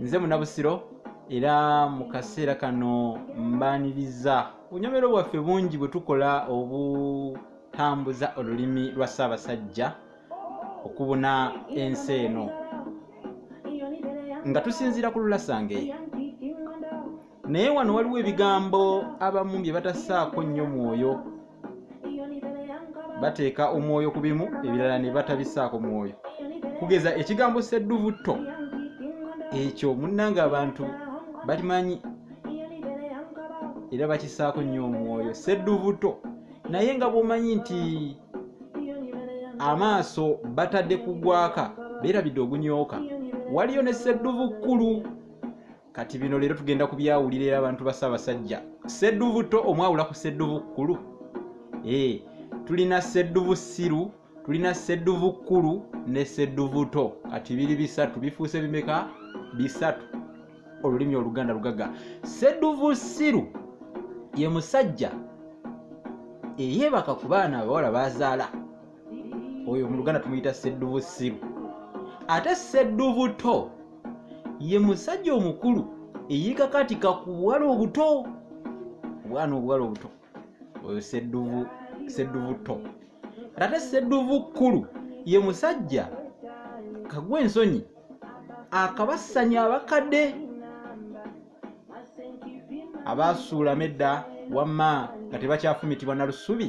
nze munabusiro era mu kaseera kano mbaniriza bunyomero bwaffe bungi bwe tukola obutambuza olulimi lwa ssaabasajja okubuna ensi eno nga tusinziira ku lulasange naye wano waliwo ebigambo abamu bye batasaako nnyo mwoyo bateeka omwoyo ku bimu ebirala ne batabisaako mwoyo kugeza ekigambo sedduvutto ekyo munnanga abantu balimanyi era bakisaako nnyo omwoyo sedduvutto naye nga bwomanyi nti amaaso batadde kugwaka beerabidde ogunyooka waliyo ne sedduvu kkulu kati bino leero tugenda kubyawulira era abantu ba ssaabasajja ssedduvu to omwawula ku ssedduvu kkulu ee eh, tulina ssedduvu ssiru tulina ssedduvu kkulu ne ssedduvu to kati biri bisatu bifuuse bimeka bisatu olulimi oluganda lugaga ssedduvu ssiru ye musajja eyeebaka ku baana abawala bazaala oyo mu luganda tumuyita sedduvu siru ate sedduvu to ye musajja omukulu eyekakatika ku buwala obuto obwana obuwala obuto oyo sedduvu sedduvu to ate sedduvu kkulu ye musajja kagwa ensonyi akabassanya abakadde abaasuulamu edda wamma nga tebakyafumitibwa na lusubi